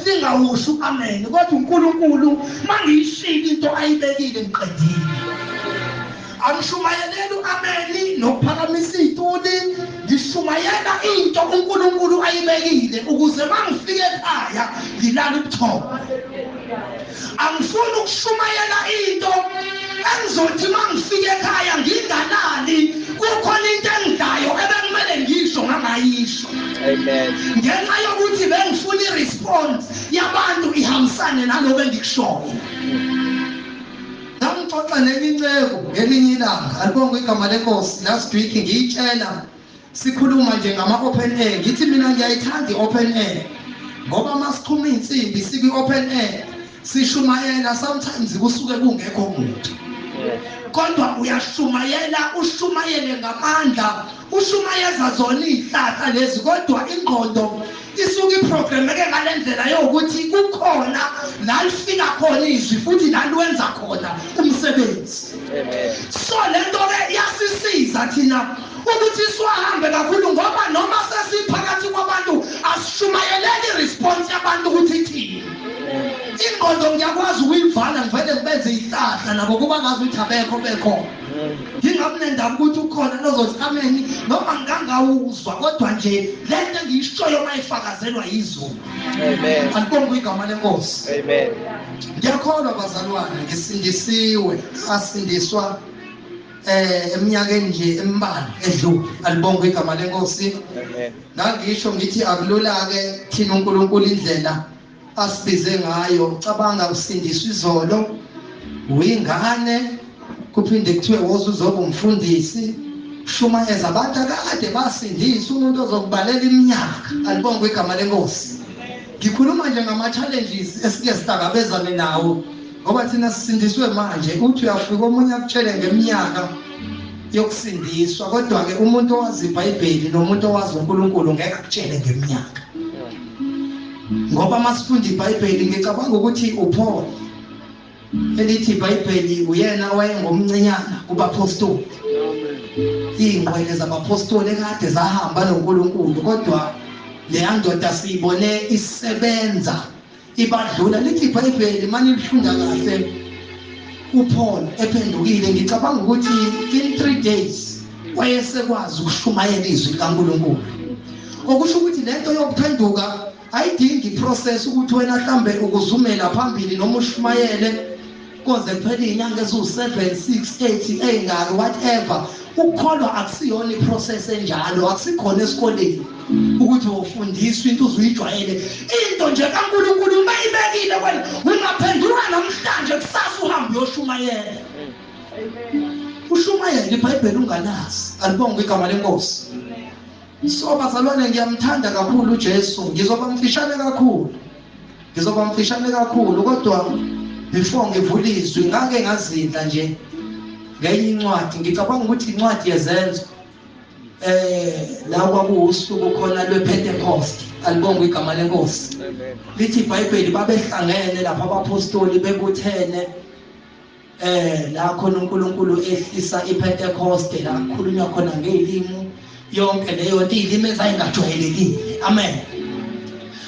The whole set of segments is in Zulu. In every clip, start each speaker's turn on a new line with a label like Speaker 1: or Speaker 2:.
Speaker 1: ningawusho u-amen kodwa unkulunkulu uma ngiyishilo into ayibekile ngiqedile angishumayeleli u-ameni nokuphakamisa iy'tuli ngishumayela into unkulunkulu ayibekile ukuze uma ngifike ekhaya ngilale ubuthongo Angifuni ukushumayela into engizothi uma ngifika ekhaya ngingalali kukhona into engidlayo ebekumele ngiyisho ngangayisho
Speaker 2: ngenxa yokuthi
Speaker 1: bengifuna iresponse yabantu ihambisane naloko engikushoyo ngangixoxa nenye inceku ngelinye ilanga alibonga igama lenkosi last week ngiyitshela Sikhuluma nje ngama open air ngithi mina ngiyayithanda i open air ngoba masiqhuma insimbi sikwi open air sishumayela sometimes kusuke kungekho muntu kodwa uyashumayela ushumayele ngamandla ushumayeza zona izihlahla lezi kodwa ingqondo Isuke iprogrameke ngale ndlela yokuthi kukhona la lifika khona izwi futhi la lwenza khona umsebenzi. So le nto ke iyasisiza thina ukuthi siwahambe kakhulu ngoba noma sesiphakathi kwabantu asishumayeleki response yabantu ukuthi ithini. Ingqondo ngiyakwazi ukuyivala ngivele ngibenze ihlahla nabo kuba ngazi ukuthi abekho bekhona. ngingamnendaba ukuthi ukhona nozothi ameni noma ngangawuzwa kodwa nje le nto engiyishoyo uma ifakazelwa yizulu
Speaker 2: alibonga igama
Speaker 1: lenkosi
Speaker 2: ngiyakholwa
Speaker 1: bazalwane ngisindisiwe asindiswa eh eminyakeni nje embalwa edlule alibonga igama lenkosi
Speaker 2: ngangisho ngithi
Speaker 1: akulula ke thina uNkulunkulu indlela asibize ngayo cabanga usindiswa izolo uyingane kuphinde kuthiwe woza uzoba umfundisi shuma eza abantu akade basindisa umuntu ozokubalela iminyaka alibongwe igama lenkosi ngikhuluma nje ngama-challenges esike sihlangabezane nawo ngoba thina sisindiswe manje uthi uyafika omunye akutshele ngeminyaka yokusindiswa kodwa-ke umuntu owazi ibhayibheli nomuntu owazi unkulunkulu ngeke akutshele ngeminyaka ngoba uma sifunda ibhayibheli ngicabanga ukuthi upholo elithi ibhayibheli uyena owayengomncinyana kubaphostoli iy'ngqwele zabaphostoli ekade zahamba nonkulunkulu kodwa leya ndoda siyibone isebenza ibadlula lithi ibhayibheli mani lifunda kahle uPaul ephendukile ngicabanga ukuthi in 3 days wayesekwazi ukushumayela izwi likaNkulunkulu okusho ukuthi lento yokuphenduka ayidingi process ukuthi wena hlambe ukuzumela phambili noma ushumayele koze kuphele inyanga eziwu7 6 8 engaki whatever ukukholwa akusiyona iprocess enjalo akusikhona esikoleni ukuthi ufundiswa into uzuyijwayele into nje kaNkulunkulu uma ibekile wena ungaphenduka namhlanje kusasa uhambe uyoshumayela ushumayela ibhayibheli ungalazi alibonga igama lenkosi So bazalwane ngiyamthanda kakhulu uJesu ngizoba mfishane kakhulu ngizoba mfishane kakhulu kodwa before ngivula izwi ngake ngazinda nje ngenye incwadi ngicabanga ukuthi incwadi yezenzo eh la kwakuwusuku khona lwePentecost alibonga igama lenkosi lithi iBhayibheli babehlangene lapha abapostoli bebuthene eh la khona uNkulunkulu ehlisa iPentecost la kukhulunywa khona ngezilimi yonke leyo nto izilimi ezayingajwayelekile amen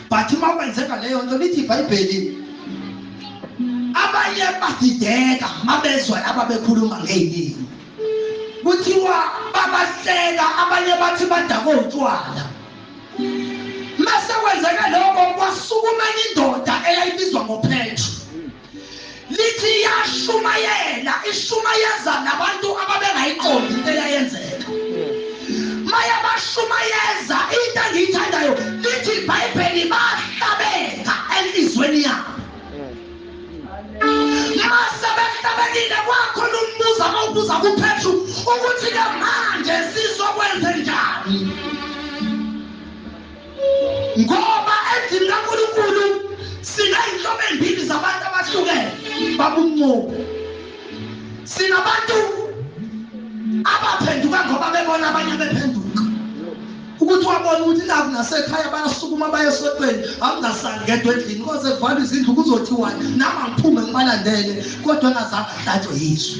Speaker 1: but uma kwenzeka leyo nto lithi iBhayibheli abanye badideka mabezwa laba bekhuluma ngezilimi kuthiwa babahleka abanye bathi badakwe utshwala mase kwenzeka lokho kwasukuma indoda eyayibizwa ngophetro Lithi yashumayela, ishumayeza nabantu ababengayiqondi into eyayenzeka. Maya bashumayeza into engiyithandayo lithi iBhayibheli bahlabeka elizweni yabo. Mase behlabekile kwakhona umbuzo abawubuza kuPetru ukuthi ke manje sizokwenze njani? Ngoba endlini kaNkulunkulu siney'nhlobo ey'mbili zabantu abahlukene babuncubo. Sinabantu abaphenduka ngoba bebona abanye bephenduka. Ukuthi wabona ukuthi naku nasekhaya bayasukuma baye esotweni angingasali ngedwa endlini koze kuvalwe izindlu kuzothiwani nami angiphume ngibalandele kodwa engazange ahlatshwe yizwe.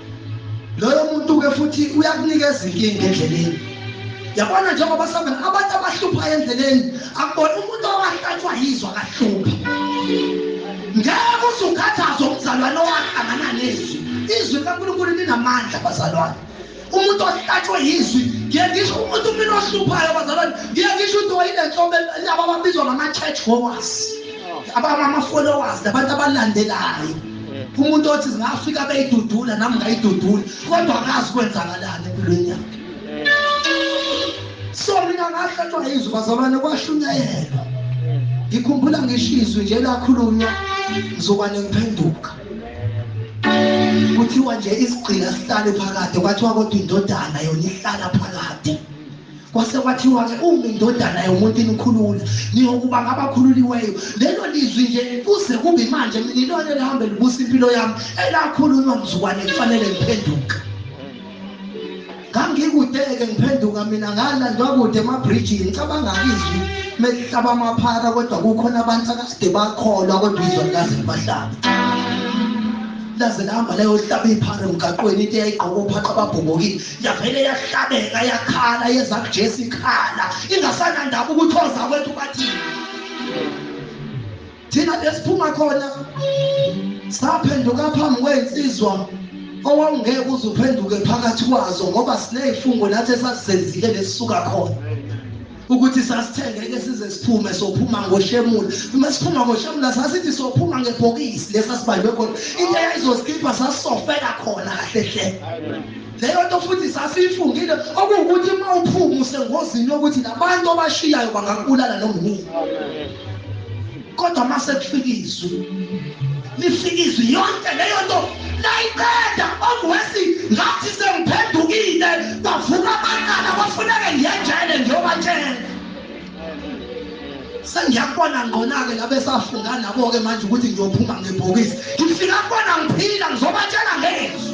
Speaker 1: loyo muntu-ke futhi uyakunikeza inkinga endleleni yabona njengoba sabona abantu abahluphayo endleleni akubona umuntu owahlatshwa yizwa kahlupha ngeke usukhathaza umzalwane owahlangana nezwi izwi likankulunkulu linamandla bazalwane umuntu ohlatshwe yizwi ngiye ngisho umuntu mina ohluphayo bazalwane ngiye ngisho ukuthi wayinenhlobo laba ababizwa ngama-church goers abama-followers nabantu abalandelayo umuntu othi zingafika beyidudula nami ngayidudula kodwa akazi kwenzakalani empilweni yakhe so mina ngahlatshwa yizwi bazalwane kwashunyayelwa ngikhumbula ngisho izwi nje lakhulunywa ngizokwane ngiphenduka kuthiwa nje isigqila sihlale phakade kwathiwa kodwa indodana yona ihlala phakade kwase kwathiwa-ke uma indodana yomuntu inikhulula niyokuba ngabakhululiweyo lelo lizwi nje kuze kube manje mina ilona elihambe libusa impilo yami elakhulunywa mzukwane kufanele ngiphenduke ngangikude-ke ngiphenduka mina ngalandwa kude emabrijini ngicabangani izwi melihlaba amaphara kodwa kukhona abantu akade bakholwa kodwa izwa likaze libahlaba laze lihamba layohlaba iphara emgaqweni into eyayigqoka ophaqa ababhobokile yavele yahlabeka yakhala yeza kuJesu ikhala ingasanandaba ukuthi oza kwethu bathini thina besiphuma khona saphenduka phambi kwensizwa owawungeke uze uphenduke phakathi kwazo ngoba sinezifungo nathi esasizenzile lesisuka khona ukuthi sasithengeke size siphume sophuma ngoshemula uma siphuma ngoshemula sasithi sophuma ngebhokisi lesa sibanjwe khona into eyayizozikhipha sasisofela khona kahle hle leyo nto futhi sasiyifungile okuwukuthi uma uphuma usengozini yokuthi labantu abashiyayo bangakubulala noma yini kodwa uma sekufika izwi lifika izwi yonke leyo nto layiqeda omwesi ngathi sengiphendukile bavuka abaqala kwafuneke ngiyejele ngiyobatshela sengiyakubona ngqona-ke labesafunga nabo-ke manje ukuthi ngiyophuma ngebhokisi ngifika kubona ngiphila ngizobatshela ngezwi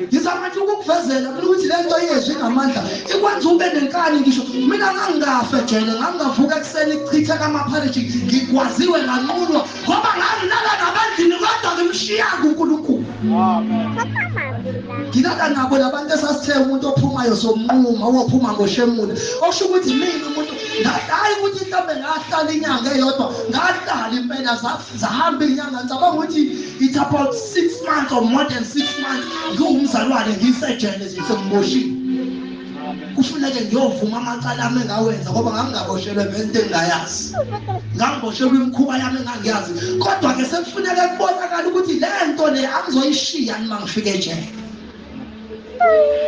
Speaker 1: ngizama nje ukukuvezela mina ukuthi le nto yezwi inamandla ikwenza ube nenkani ngisho mina ngangingafe jele ngangingavuka ekuseni kuchithe kamaphariji ngigwaziwe nganqulwa ngoba ngangilala nabandlini kodwa ngimshiya kunkulunkulu ngilala nabo labantu esasithe umuntu ophumayo somnquma owophuma ngoshemule okusho ukuthi mina umuntu ngahlayi ukuthi mhlawumbe ngahlala inyanga eyodwa ngahlala impela zahamba inyanga ngicabanga ukuthi it's about six months or more than six months ngiwumzalwane ngisejele nje sengimoshile kufuneke ngiyovuma amacala ami engawenza ngoba ngangingaboshelwe ngento engingayazi ngangiboshelwe imikhuba yami engangiyazi kodwa-ke sekufuneke kubonakala ukuthi le nto le angizoyishiya nima ngifike ejele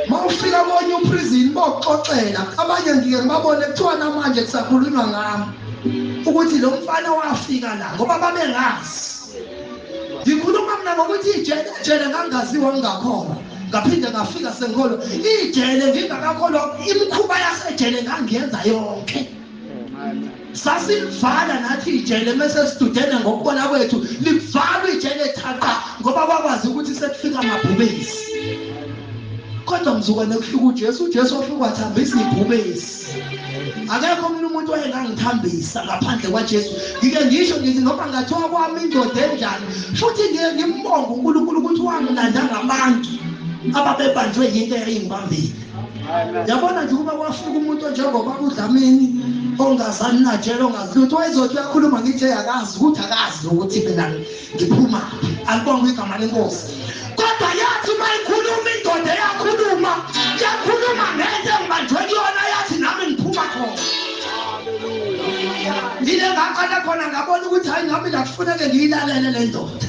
Speaker 1: mawufika konye uprison bokuxoxela abanye ngike ngibabone kuthiwa namanje kusakhulunywa ngami ukuthi lo mfana wafika la ngoba babengazi ngikhuluma mina ngokuthi ijele ejele ngangaziwa ngingakhona ngaphinde ngafika sengikholwa ijele ngingakakholwa imikhuba yasejele ngangiyenza yonke sasilivala nathi ijele mese sidudene ngokubona kwethu livalwa ijele thaqa ngoba kwakwazi ukuthi sekufika amabhubesi kodwa mzukwane kuhluka uJesu uJesu wafika wathambisa ibhubesi akekho omunye umuntu wayengangithambisa ngaphandle kwaJesu ngike ngisho ngithi noma ngathiwa kwami indoda enjani futhi ngiye ngimbonge uNkulunkulu ukuthi wanginanda ngabantu ababebanjwe yinto eyayingibambile yabona nje ukuba kwafika umuntu onjengoba kudlamini ongazani najela ongazi lutho wayezothi uyakhuluma ngithi akazi ukuthi akazi ukuthi mina ngiphuma alibonga igama lenkosi kodwa yathi uma ikhuluma indoda eyakhuluma yakhuluma ngento engibanjwe kuyona yathi nami ngiphuma khona yile ngaqala khona ngabona ukuthi hayi nami lakufuneke ngiyilalele le ndoda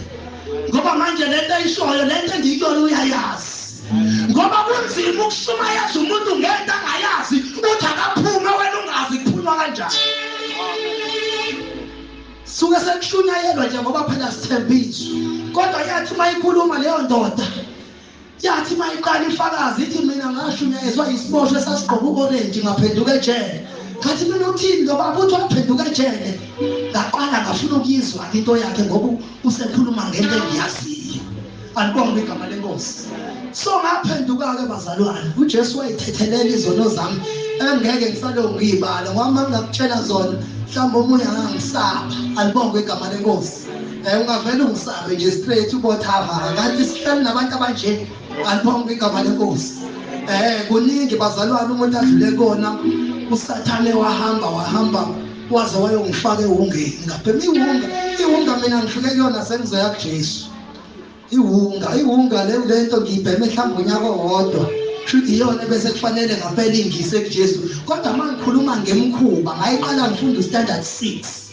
Speaker 1: ngoba manje le nto eyishoyo le nto engiyiyona uyayazi ngoba kunzima ukushumayeza umuntu ngento angayazi uthi akaphume wena ungazi kuphunywa kanjani suke sekushunyayelwa nje ngoba phela sithembiso kodwa yathi uma ikhuluma leyo ndoda yathi uma iqala ifakazi ithi mina ngashunyayezwa yisiboshwe sasigqoka u-orenji ngaphenduka ejele ngathi mina uthini lo baba uthi waphenduka ejele ngaqala ngafuna ukuyizwa into yakhe ngoba usekhuluma ngento engiyaziyo alibongwe igama lenkosi so ngaphenduka-ke bazalwane ujesu wayithethelela izono zami engeke ngisalokhu ngiyibala ngoba uma ngingakutshela zona mhlawumbe omunye angangisaba alibongwe igama lenkosi um ungavele ungisabe nje straight ubothama kanti sihleli nabantu abanje alibongwe igama lenkosi um kuningi bazalwane umuntu adlule kona usathane wahamba wahamba waze wayongifaka ewungeni ngapha imiwunga iwunga mina ngifike kuyona sengizoya kujesu iwunga iwunga le lento ngiyibheme mhlawumbe unyaka owodwa shuthi iyona bese kufanele ngapela ingise kuJesu kodwa uma ngikhuluma ngemkhuba ngayiqala ngifunda standard 6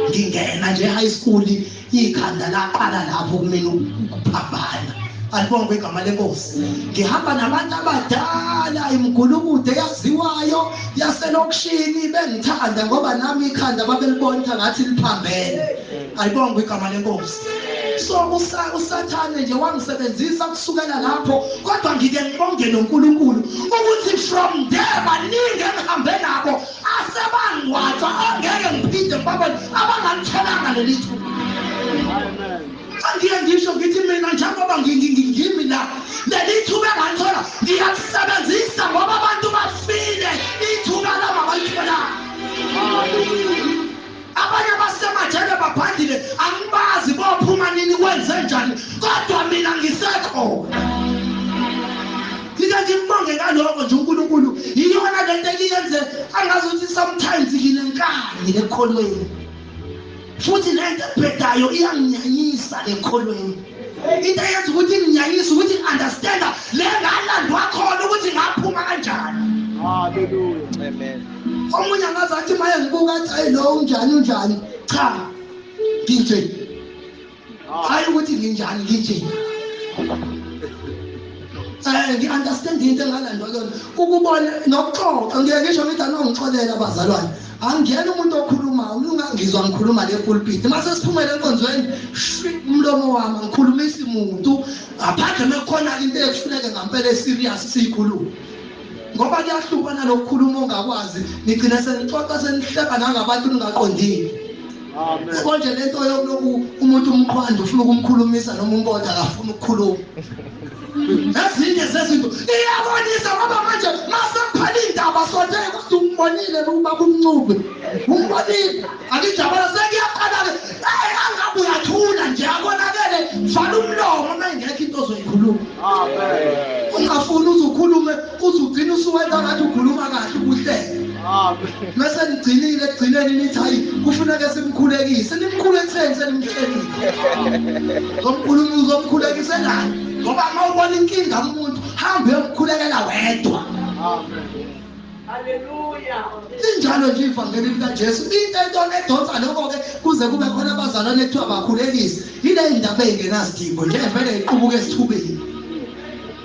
Speaker 1: ngingena nje high school ikhanda laqala lapho kumina ukuphambana alibongwe igama lenkosi ngihamba nabantu abadala imgulukude yaziwayo yaselokishini bengithanda ngoba nami ikhanda babelibonta ngathi liphambene ayibongwe igama lenkosi so usathane nje wangisebenzisa kusukela lapho kodwa ngike ngibonge nonkulunkulu ukuthi from there baningi engihambe nabo asebangwathwa angeke ngiphinde ngibabone abangalitholanga leli thuba angiye ngisho ngithi mina njengoba ngimi la leli thuba engalithola ngiyalisebenzisa ngoba abantu bafile ithuba lama balitholanga abanye abasemajele babhandile angibazi bophuma nini kwenze njani kodwa mina ngisekhona ngike ngimbonge ngaloko nje unkulunkulu yiyona le nto eliyenze angazi ukuthi sometimes nginenkani ekholweni futhi le nto ebhedayo iyanginyanyisa ekholweni Into eyenza ukuthi nginyanyise ukuthi understand le ngalandwa khona ukuthi ngaphuma kanjani. Hallelujah. Amen. Omunye angaze athi maye ngibuka athi ayi lo unjani unjani. Cha. Nginje. Ah. Hayi ukuthi nginjani nginje. Eh ngi understand into engalandwa kuyona. Ukubona nokuxoxa ngeke ngisho ngithi anongixolela abazalwane. angena umuntu okhulumayo umlunga ngizwa ngikhuluma le pulpit uma sesiphumele enkonzweni umlomo wami ngikhulumisi muntu aphandle uma kukhona-ke into ekufuneke ngampela eserious siyikhulume ngoba kuyahluka nalokukhuluma ongakwazi nigcine senixoxa senihleba nangabantu ningaqondile konje lento yokuloku umuntu umqhwanda ufuna ukumkhulumisa noma umbonda akafuna ukukhuluma ezinye zezinto iyabonisa ngoba manje masemphala indaba sonje kuthi umbonile lokuba kumncube umbonile akijabula sekuyaqala-ke eyi angabe uyathula nje akonakele vala umlomo uma ingekho into ozoyikhuluma ungafuni uze ukhulume Uze ugcine usuwenza ngathi ukhuluma kahle ubuhlele. Mese nigcinile ekugcineni nithi hayi kufuneka simkhulekise. Nimkhulekiseni senimhlelile. Ngomkhulumi uzomkhulekise nani? Ngoba uma ubona inkinga kumuntu hambe uyomkhulekela wedwa. Amen. linjalo nje ivangeli likajesu into entona edonsa lokho-ke kuze kube khona abazalwane ekuthiwa bakhulekise yile ndaba eyingenasidingo nje vele iqubuka esithubeni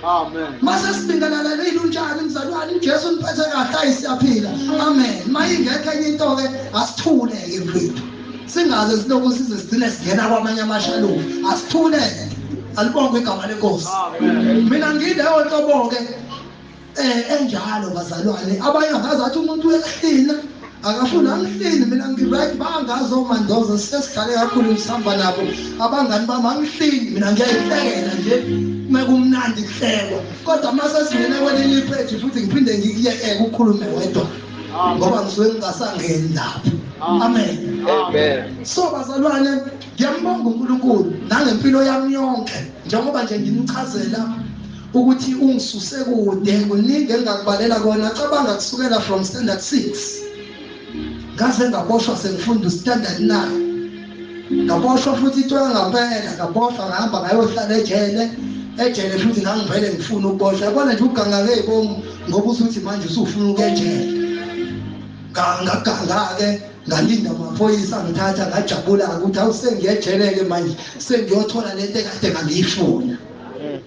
Speaker 1: Amen. Mase sibingelelele ilunjani mzalwane uJesu niphethe kahle ayisiyaphila. Amen. Mayingekho enye into ke asithuleke mfethu. Singaze siloku size sigcine singena kwamanye amashalufu. Asithuleke. Alibongwe igama lenkosi. Amen. Mina ngileyo nhlobo ke Eh enjalo bazalwane abanye angazi athi umuntu wehlina akafuni angihlini mina ngiright bangazi omandoza sesidlale kakhulu ngisihamba nabo abangani bami angihlini mina ngiyayihlekela nje mekumnandi kuhlekwa kodwa uma sesingene kwelinye ipheji futhi ngiphinde ngikuyeke ukhulume wedwa ngoba ngisuke ngingasangeni lapho amen so bazalwane ngiyambonga unkulunkulu nangempilo yami yonke njengoba nje ngimchazela ukuthi ungisuse kude kuningi engakubalela kona cabanga kusukela from standard 6 ngaze ngaboshwa sengifunda standard 9 ngaboshwa futhi ithola ngampela ngaboshwa ngahamba ngayohlala ejele ejele futhi ngangivele ngifuna ukuboshwa yabona nje ugangake ibomu ngoba usuthi manje usufuna ukejele ngagangake ngalinda amaphoyisa ngithatha ngajabula ukuthi awusengiyejele-ke manje sengiyothola lento ekade ngangiyifuna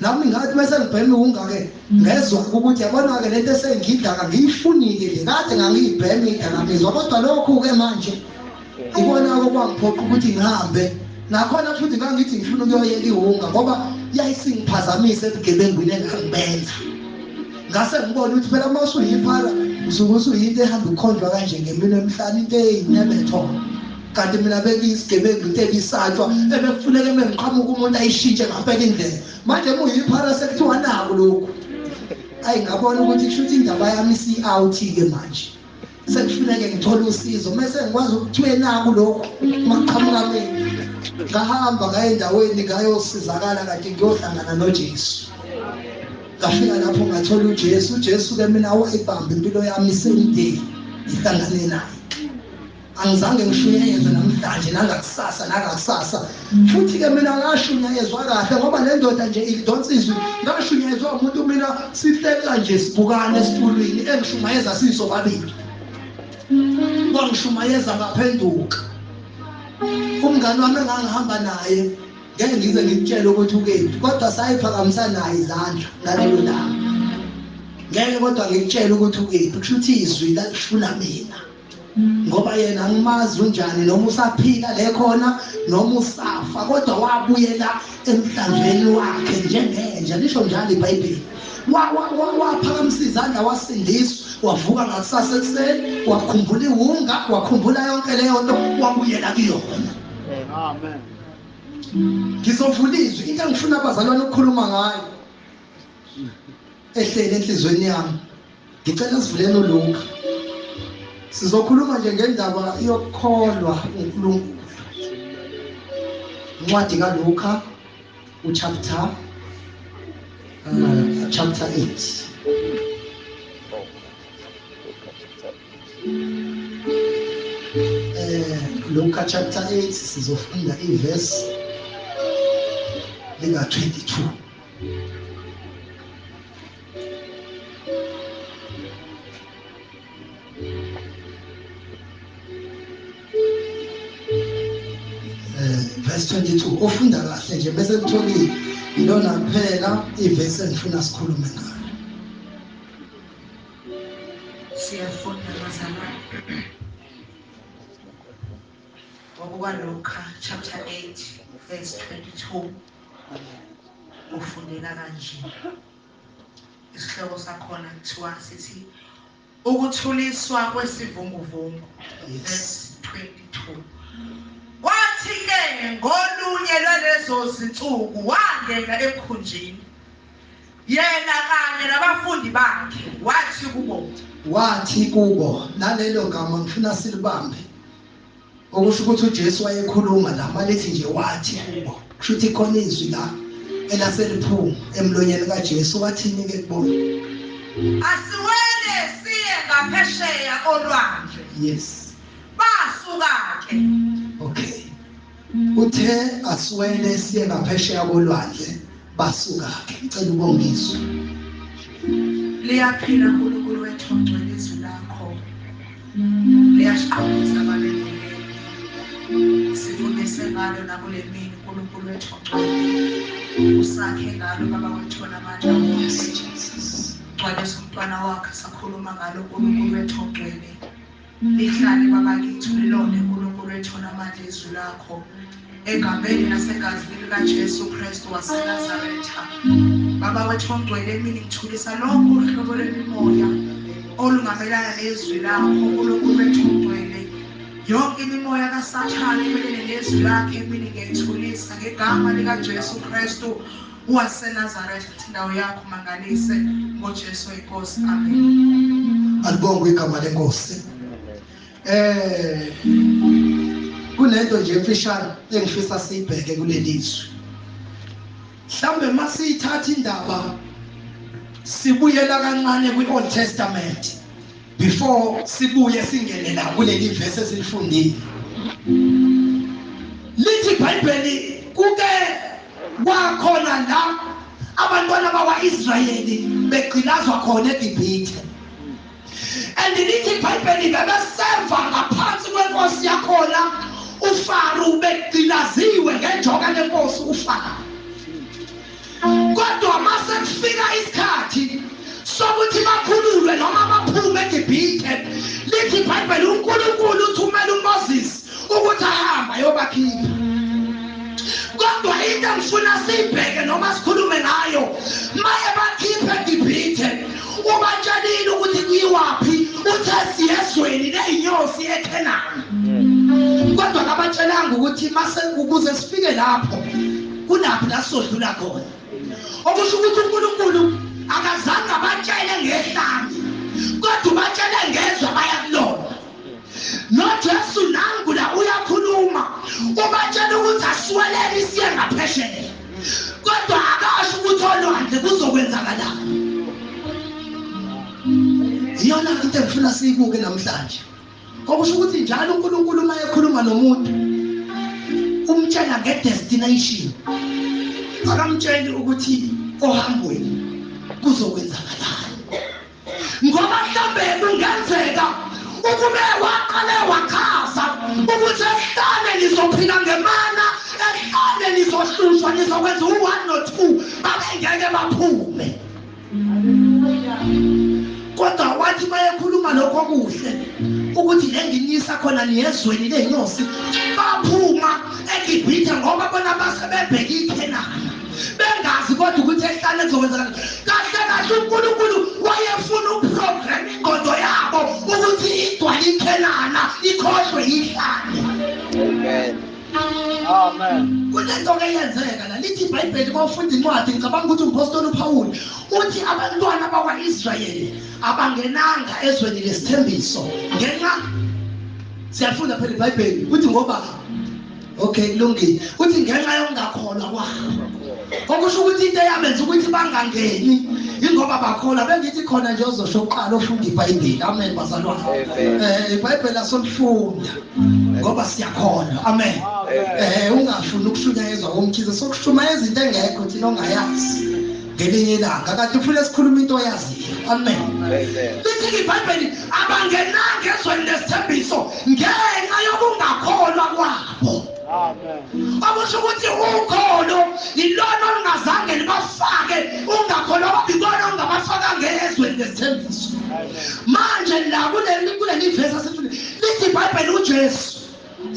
Speaker 1: nami ngathi bese ngibheme ungake ngezwa ukuthi yabona-ke le nto esengiyidaka ngiyifunile le kade ngangiyibheme idakamizwa kodwa lokhu-ke manje ikona-ke kwangiphoqa ukuthi ngihambe nakhona futhi ngangithi ngifuna ukuyoyeka iwunga ngoba yayisingiphazamisa ebugebengwini engangibenza ngase ngibona ukuthi phela uma usuyiphara usuke usuyinto ehamba ukhonjwa kanje ngemini emhlane into eyinyebethona kanti mina bengiyisigebengu into ebisatshwa ebekufuneka uma ngiqhamuka umuntu ayishintshe ngaphela indlela manje muyiphara sekuthiwa naku lokhu ayi ngabona ukuthi kusho ukuthi indaba yami isiyi-out-ke manje sekufuneke ngithole usizo mese ngikwazi ukuthiwe naku lokhu maqhamuka mina ngahamba ngaye endaweni ngayosizakala kanti ngiyohlangana nojesu ngafika lapho ngathola ujesu ujesu-ke mina wayibamba impilo yami isemdeni ngihlangane naye angizange ngishunyayezwe namhlanje nangakusasa nangakusasa futhi-ke mina ngashunyayezwa kahle ngoba le ndoda nje ikudonsa izwi ngashunyayezwa umuntu mina sihleka nje sibukane esitulwini engishumayeza sisobabili kwangishumayeza ngaphenduka umngane wami engangihamba naye ngeke ngize ngikutshele ukuthi ukephi kodwa sayiphakamisa naye izandla ngalelo langa ngeke kodwa ngikutshele ukuthi ukephi kusho ukuthi izwi lalifuna mina ngoba yena angimazi unjani noma usaphila le khona noma usafa kodwa wabuyela emhlanzweni wakhe njengenja lisho njalo ibhayibheli waphakamisa izandla wasindiswa wavuka ngakusasa ekuseni wakhumbula iwunga wakhumbula yonke leyo nto wabuyela kuyona amen ngizovula izwi into engifuna abazalwane ukukhuluma ngayo ehlele enhliziyweni yami Ngicela sivuleni uLuka. Sizokhuluma nje ngendaba yokukholwa uNkulunkulu. Incwadi kaLuka uchapter uh, chapter 8. Eh Luka chapter 8 sizofunda iverse lika 22. verse 22 ofunda kahle nje bese kutholile yilona kuphela ivesi engifuna sikhulume ngayo
Speaker 2: siyafunda bazalwane ngokukwalokha chapter 8 verse 22 ufundeka kanje Isihloko sakhona kuthiwa sithi ukuthuliswa kwesivunguvungu verse 22. Kwathi-ke ngolunye lwalezo zinsuku wangena emkhunjini yena kanye nabafundi bakhe wathi kubo wathi kubo nalelo gama
Speaker 1: ngifuna silibambe okusho ukuthi uJesu wayekhuluma la malithi nje wathi kubo kusho ukuthi khona izwi la elaseliphuma emlonyeni kaJesu wathini ke kubona
Speaker 2: asiwele siye ngaphesheya olwandle yes
Speaker 1: basuka
Speaker 2: ke okay
Speaker 1: Uthe aswele siye ngaphesheya kolwandle basuka ke ngicela ubongiswe.
Speaker 2: Liyaphila uNkulunkulu wethu ongcwele izwi lakho. Liyasiqondisa abalele. Sifundise ngalo nakulemini uNkulunkulu wethu ongcwele. Usakhe ngalo baba wethu namandla wonke. Gcwalisa umntwana wakhe sakhuluma ngalo uNkulunkulu wethu ongcwele. Lihlale baba kithi ulilonde Nkulunkulu ethole amandla izwi lakho egameni nasegazini lika Jesu Kristu wase Nazaretha baba wethu ongcwele emini ngithulisa lonke uhlobo lwemimoya olungamelana nezwi lakho Nkulunkulu wethu ongcwele yonke imimoya kasathane imelene nezwi lakhe emini ngiyayithulisa ngegama lika Jesu Kristu waseNazaretha ukuthi indawo yakho mangalise ngoJesu inkosi amen alibongwe igama
Speaker 1: lenkosi eh kunento nje emfishane engifisa siyibheke kuleli zwi mhlambe masiyithatha indaba sibuyela kancane kwi-old testament before sibuye singene la kuleli verse esilifundile lithi ibhayibheli kuke kwakhona la abantwana bakwa-israyeli begqilazwa khona egibhithe and lithi ibhayibheli bebeseva ngaphansi kwenkosi yakhona ufaru begqilaziwe ngenjoka lenkosi ufara Kodwa mase kufika isikhathi sokuthi bakhululwe noma baphume eGibhithe, lithi iBhayibheli uNkulunkulu uthumela uMoses ukuthi ahambe ayobakhipha. Kodwa into engifuna siyibheke noma sikhulume ngayo, maye bakhiphe eGibhithe, ubatshelile ukuthi kuyiwaphi, uthe siyezweni leyinyosi eKhenani. Kodwa kabatshelanga ukuthi mase ukuze sifike lapho kunaphi la sizodlula khona okusho ukuthi unkulunkulu akazange abatshele ngehlanga kodwa ubatshele ngezwe abayakulona nojesu nangu la uyakhuluma ubatshela ukuthi asiwelele isiye ngaphesheya kodwa akasho ukuthi olwandle kuzokwenzakalani iyona into engifuna siyibuke namhlanje okusho ukuthi njalo uNkulunkulu uma ekhuluma nomuntu umtshela ngedestination akamtsheli ukuthi ohambweni kuzokwenzakalani ngoba mhlawumbe kungenzeka ukube waqale wachaza ukuthi esihlane nizophila ngemana esihlane nizohlushwa nizokwenza u-one no-two babengeke baphume kodwa wathi mayekhuluma lokho okuhle ukuthi lenginyisa khona niyezweni lenyosi baphuma egibhithe ngoba bona base bebheke ikhenana bengazi kodwa ukuthi ehlane kuzokwenzakala kahle kahle unkulunkulu wayefuna uprogram ingqondo yabo ukuthi igcwale ikhenana ikhohlwe yihlane
Speaker 3: Amen. Kunento ke
Speaker 1: yenzeka la lithi iBhayibheli bawufunda incwadi ngicabanga ukuthi umpostoli uPawulu uthi abantwana bakwaIsrayeli abangenanga ezweni lesithembiso ngenxa siyafunda phela iBhayibheli ukuthi ngoba okay kulungile uthi ngenxa yokungakholwa kwabo okusho ukuthi into eyamenza ukuthi bangangeni ingoba bakholwa bengithi khona nje ozosho kuqala ofunda iBhayibheli amen bazalwane eh iBhayibheli asomfunda ngoba siyakholwa amen eh ungafuni ukushunyayezwa komkhize sokushumayeza into engekho thina ongayazi ngelinye ilanga kanti ufuna sikhuluma into oyaziyo amen lithi ibhayibheli abangenanga ezweni lesithembiso ngenxa yokungakholwa kwabo okusho ukuthi ukholo yilona olungazange libafake ungakholwa kwabikona ongabafakanga ezweni lesithembiso manje la kuleli vesi Lithi iBhayibheli uJesu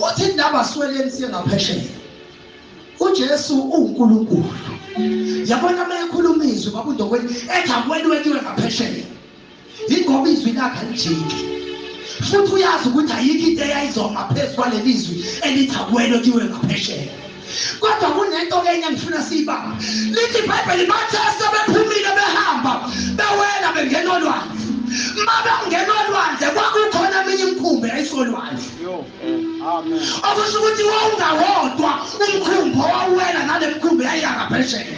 Speaker 1: uthi indaba sweleni siye ngaphesheya. UJesu uNkulunkulu. Yabona uma ekhuluma izwi babundokweni ethi akweli wetiwe ngaphesheya. Ingoba izwi lakhe alijiki. Futhi uyazi ukuthi ayikho into eyayizoma phezu kwaleli zwi elithi akweli wetiwe ngaphesheya. kodwa kunento enye engifuna siyibamba lithi ibhayibheli bathe asebephumile behamba bewela bengena olwandle uma bengena olwandle kwakukhona eminye imikhumbi yayisolwandle
Speaker 3: okusho ukuthi
Speaker 1: wawungawodwa umkhumbi owawuwela nale mkhumbi yayiyakaphesheya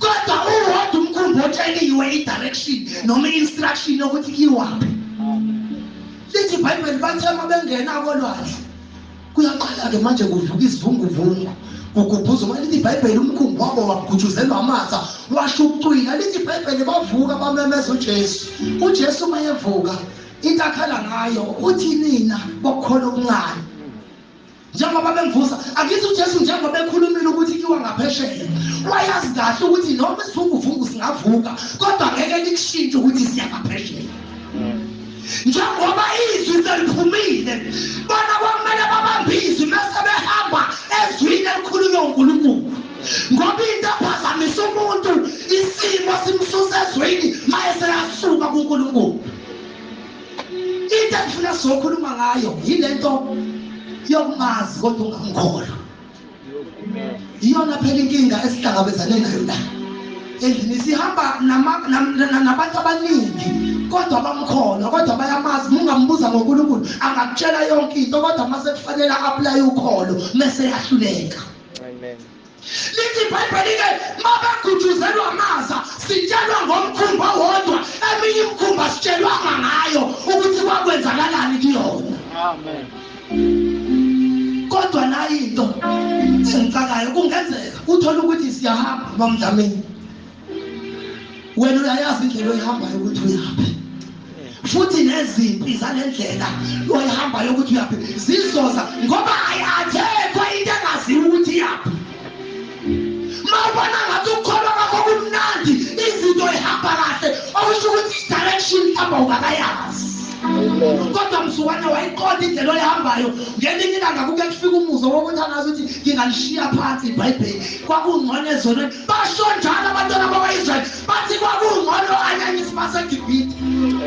Speaker 1: kodwa uwodwa umkhumbi otsheliwe i-direction noma i-instruction yokuthi iwaphi lithi ibhayibheli bathe uma bengena kolwandle Kuyaqala-ke manje kuvuka isivunguvungu kugubhuza uma lithi ibhayibheli umkhumbi wabo wagutshuzelwa amatha washo ukucwila lithi ibhayibheli bavuka bamemeza ujesu ujesu uma evuka into akhala ngayo uthi nina bokukhola okuncane njengoba bemvusa angithi ujesu njengoba ekhulumile ukuthi kiwa ngaphesheya wayazi kahle ukuthi noma isivunguvungu singavuka kodwa ngeke likushintshe ukuthi siya ngaphesheya njengoba izwi seliphumile bona kwamele babambe izwi mese behamba ezwini elikhulunywa uNkulunkulu ngoba into ephazamisa umuntu isimo simsusa ezwini maye seyasuka kuNkulunkulu into engifuna sizokhuluma ngayo yilento yokumazi kodwa ungamkholwa iyona phela inkinga esihlangabezane nayo la endlini sihamba nabantu abaningi kodwa bamkhona kodwa bayamazi mungambuza ngoNkulunkulu angakutshela yonke into kodwa mase kufanele apply ukholo mese yahluleka
Speaker 3: amen lithi
Speaker 1: ibhayibheli ke mabagujuzelwa amaza sitshelwa ngomkhumba wodwa eminye imkhumba sitshelwanga ngayo ukuthi kwakwenzakalani kuyona amen kodwa nayo into engicakayo kungenzeka uthole ukuthi siyahamba bamdlameni wena uyayazi indlela oyihambayo ukuthi uyaphi futhi nezimpi zale ndlela oyihambayo ukuthi uyaphi zizoza ngoba ayathethwa into engaziwa ukuthi yaphi mawubona ngathi ukukholwa kwakho kumnandi izinto ihamba kahle okusho ukuthi i-direction ihamba ungakayazi kodwa mzukwane wayiqonda indlela oyihambayo ngelinye ilanga kuke kufika umuzwa wokuthi angazi ukuthi ngingalishiya phansi ibhayibheli kwakungcono ezonweni basho njalo abantwana bakwa-israyeli bathi kwakungcono anyanyisi basegibhide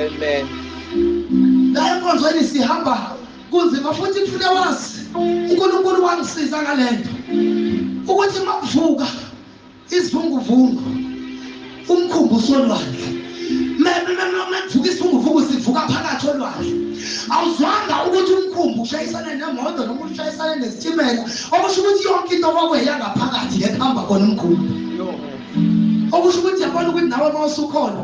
Speaker 1: amen la enkonzweni sihamba kunzima futhi kufune wazi uNkulunkulu wangisiza ngalento ukuthi makuvuka isivunguvungu umkhumbu usolwandle mekuvuka isivunguvungu sivuka phakathi olwandle awuzwanga ukuthi umkhumbu ushayisane nemoto noma ushayisane nesitimela okusho ukuthi yonke into kwakweya ngaphakathi ngekuhamba khona umkhumbu okusho ukuthi yabona ukuthi nawe uma usukhona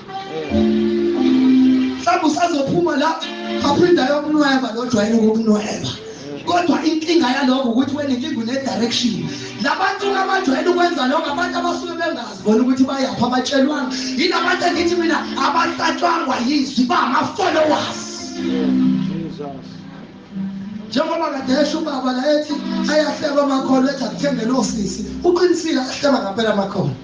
Speaker 1: mhlawumbe usazophuma la aphinde ayokunweba lo jwayele ukukunweba kodwa inkinga yalokho ukuthi wena inkinga une-direction labantu abajwayele ukwenza lokho abantu abasuke bengazi bona ukuthi bayaphi abatshelwanga yini abantu engithi mina abahlatshwangwa yizwi bangama-followers njengoba kade esho ubaba la ethi ayahleba amakhono ethi akuthengele osisi uqinisile ahleba ngampela amakhono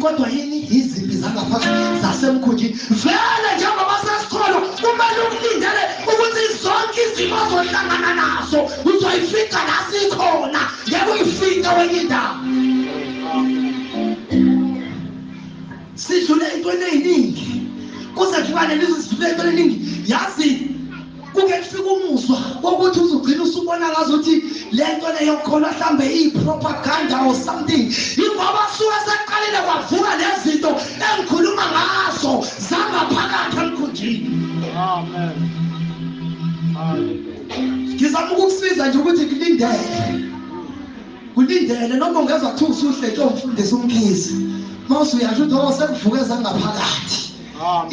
Speaker 1: kodwa yini yizimpi zangaphakathi zasemkhunjini vele njengoba sesikholwa kumele ukulindele ukuthi zonke izimo zohlangana nazo uzoyifika la sikhona ngeke uyifike wenye indawo sidlule ey'ntweni ey'ningi kuze kufika leli sidlule ey'ntweni ey'ningi yazi kuke kufike umuzwa wokuthi uzugcina usubona ngazuthi lento leyokhona mhlambe iyipropaganda or something ingoba suke seqalile kwavuka lezinto engikhuluma ngazo zangaphakathi
Speaker 3: emkhunjini amen ngizama ukukusiza nje
Speaker 1: ukuthi kulindele kulindele noma ungezwa kuthiwa usuhle nto mfundisi umkhizi mawusuyasho ukuthi o sekuvuke zangaphakathi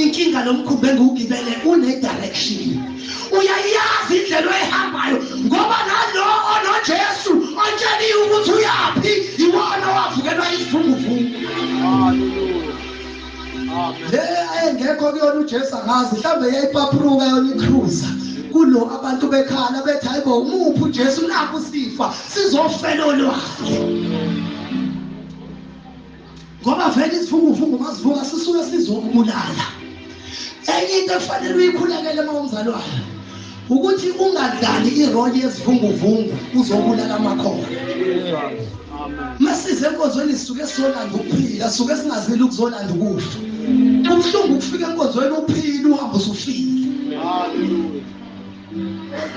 Speaker 1: inkinga lomkhumbi engiwugibele une-direction uyayazi indlela oyihambayo ngoba nalo onojesu otsheliwe ukuthi uyaphi iwona owavukelwa izivunguvungu
Speaker 3: le ayengekho kuyona
Speaker 1: ujesu angazi mhlawumbe yayipapruka yona ikruza kulo abantu bekhala bethi hayi bo umuphi ujesu nakho sifa sizofela olwakhe ngoba vele isifungufungu masivuka sisuke sizokubulala enye into efanele uyikhulekele uma umzalwane ukuthi ungadlali iroli yesivunguvungu uzobulala amakhona
Speaker 3: masize
Speaker 1: enkonzweni sisuke sizolanda ukuphila sisuke singazile ukuzolanda ukufa kubuhlungu ukufika enkonzweni uphile uhambe usufile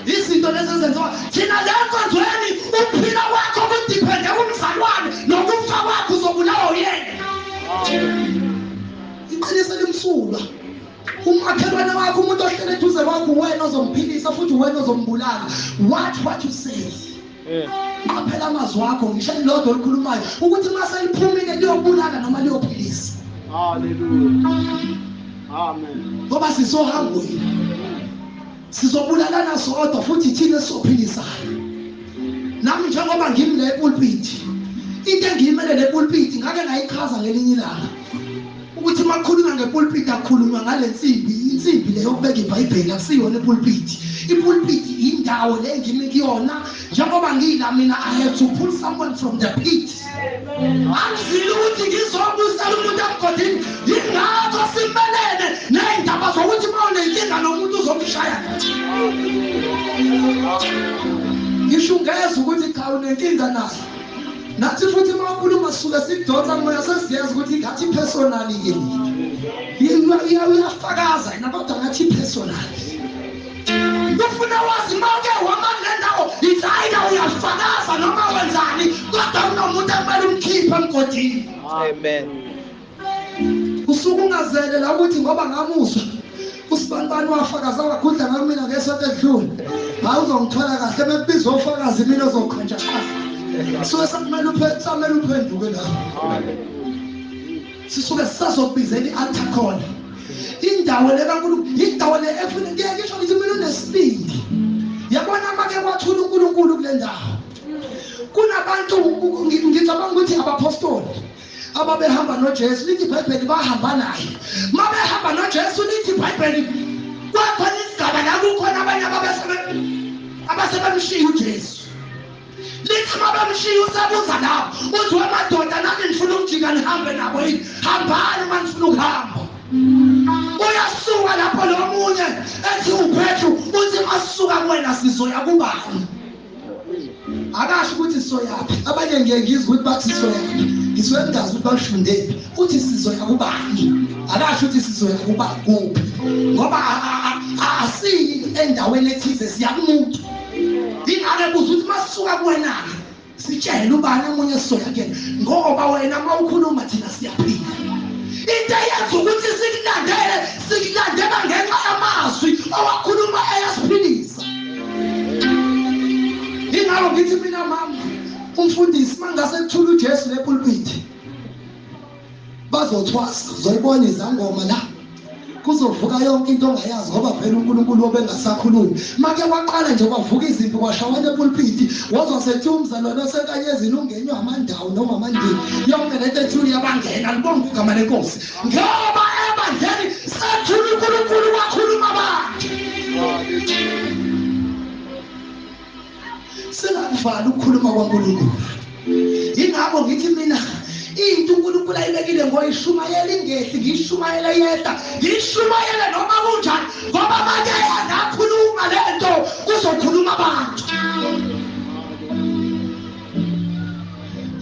Speaker 1: izinto lezi ezenziwa thina le nkonzweni ukuphila kwakho kudiphende kumzalwane nokufa kwakho uzobulawa uyena iqiniso elimsulwa umakhelwane wakho umuntu ohlele eduze kwakho uwena ozomphilisa futhi uwena ozombulala watch what you say qaphela amazwi akho ngisho elilodwa olukhulumayo ukuthi uma seliphumile liyobulala noma liyophilisa
Speaker 3: ngoba sisohambweni
Speaker 1: sizobulalana sodwa futhi thina esizophilisayo nami njengoba ngimi le pulpiti into engiyimele le pulpiti ngake ngayichaza ngelinye ilanga ukuthi uma kukhulunywa ngepulpiti akukhulunywa ngale nsimbi insimbi le yokubeka ibhayibheli akusiyona ipulpiti ipulpiti yindawo le ngimi kuyona njengoba ngiyila mina i have to pull someone from the pit angizile ukuthi ngizobusela umuntu emgodini yingakho simelene ney'ndaba zokuthi uma unenkinga nomuntu uzomshaya ngisho ungeza ukuthi cha unenkinga naye nathi futhi uma ukhuluma sisuke sidonsa moya sesiyazi ukuthi ngathi personal yini uyafakaza yena kodwa ngathi personal ufuna wazi uma uke wama kule ndawo yithayida uyafakaza noma wenzani kodwa unomuntu ekumele umkhiphe emgodini amen usuke ungazele la ukuthi ngoba ngamuzwa usibanibani wafakaza wagudla ngami mina ngesonto edlule hayi uzongithola kahle mekubiza ofakazi mina ozokhonja suke sakumele samele uphenduke la sisuke sisazokubizela i-altar khona indawo le kankulunkulu indawo le efuna ngeke ngisho ngithi mina unesibindi yabona make kwathula unkulunkulu kule ndawo kunabantu ngicabanga ukuthi abapostoli ababehamba nojesu lithi ibhayibheli bahamba naye uma behamba nojesu lithi ibhayibheli kwakhona isigaba la kukhona abanye abasebemshiya ujesu lithi uma bemshiya usebuza lawo uthi wemadoda nami ngifuna ukujika nihambe nabo yini hambani uma nifuna ukuhamba uyasuka lapho lo munye ethi uphethu uthi masuka kuwena sizoya kubani akasho ukuthi sizoyaphi abanye ngiye ngizwe ukuthi bathi sizoyaphi ngisuke ngingazi ukuthi balifundephi uthi sizoya kubani akasho ukuthi sizoya kuba kuphi ngoba asiyi endaweni ethize siya kumuntu ingane buza ukuthi masisuka kuwenake sitshele ubani omunye sizoya kuyena ngoba wena uma ukhuluma thina siyaphila into eyenza ukuthi sikulandele sikulandela ngenxa yamazwi owakhuluma eyasiphilisa ingalo ngithi mina mama umfundisi mangase kuthula uJesu lepulpiti bazothwasa zoyibona izangoma la kuzovuka yonke into ongayazi ngoba phela uNkulunkulu obengasakhulumi make waqala nje kwavuka izimpi kwashawa lepulpiti wazwa sethi umzalwane osekanyezini ungenywa amandawo noma amandini yonke lento ethuli yabangena libonga igama lenkosi ngoba ebandleni sethula unkulunkulu wakhuluma abantu singakuvali ukukhuluma kwankulunkulu yingakho ngithi mina into unkulunkulu ayibekile ngoyishumayela ingehli ngiyishumayele yedwa ngiyishumayele noma kunjani ngoba manje yangakhuluma le nto kuzokhuluma abantu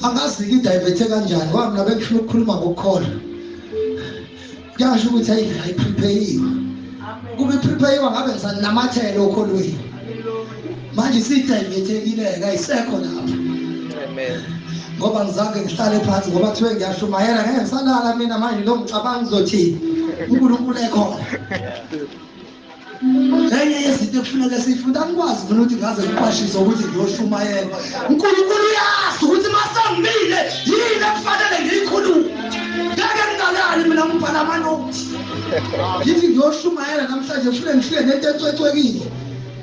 Speaker 1: angazi ngidiverte kanjani ngoba mina bengifuna ukukhuluma ngokukholwa kuyasho ukuthi ayi ayiprepheyiwe kube iprepheyiwa ngabe ngisanamathele okholweni manje sidivethekile-ke ayisekho lapho
Speaker 3: ngoba ngizange
Speaker 1: ngihlale phansi ngoba kuthiwe ngiyashumayela ngeke ngisalala mina manje lo ngicabanga ngizothini unkulunkulu ekhona enye yezinto ekufuneka siyifunda angikwazi mina ukuthi ngaze ngiqwashise ukuthi ngiyoshumayela unkulunkulu uyazi ukuthi masangimile yini ekufanele ngiyikhulume ngeke ngingalali mina ngibhala amanothi ngithi ngiyoshumayela namhlanje fune ngifike nento ecwecwekile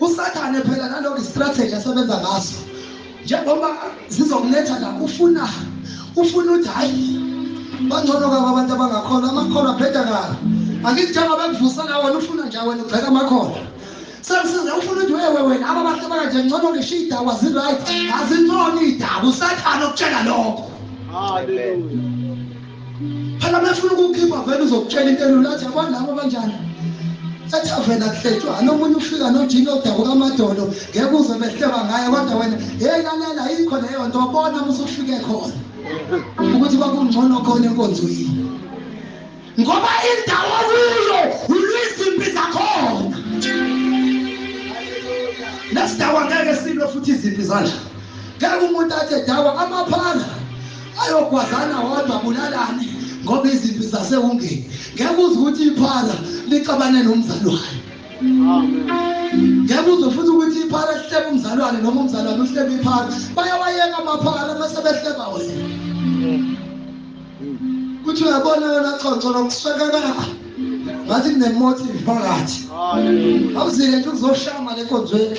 Speaker 1: Usathane phela nalokho istrategy asebenza ngaso. Njengoba zizokuletha la ufuna ufuna uthi hayi bangcono kabi abantu abangakholwa amakholwa abheda kabi. Angithi njengoba kuvusa la wena ufuna nje wena ubheka amakholwa. Sengisiza ufuna ukuthi wewe wena aba bahle bakanje ngcono ngisho idaba azi right azincono idaba usathane ukutshela lokho. Hallelujah. phela mefuna ukukhipha vele uzokutshela into elula athi yabona labo banjani ethaveni akuhletshwa nomunye ufika nojini odabuka amadolo ngeke uze behleba ngaye kodwa wena yeyi lalela yikho leyo nto bona musufike khona ukuthi kwakungcono khona enkonzo yini ngoba indawo kuyo ulwizimpi zakhona lesidawa ngeke silwe futhi izimpi zanje ngeke umuntu athi edawa amaphara ayogwazana wodwa bulalani ngoba izimpi zasewungeni ngeke uze ukuthi iphara lixabane nomzalwane ngeke uze futhi ukuthi iphara lihlebe umzalwane noma umzalwane uhlebe iphara bayawayeka amaphara mase behleba wena kuthi uyabona yona xoxo lokuswekeka ngathi kunemotive phakathi awuzile nje ukuzoshama lenkonzweni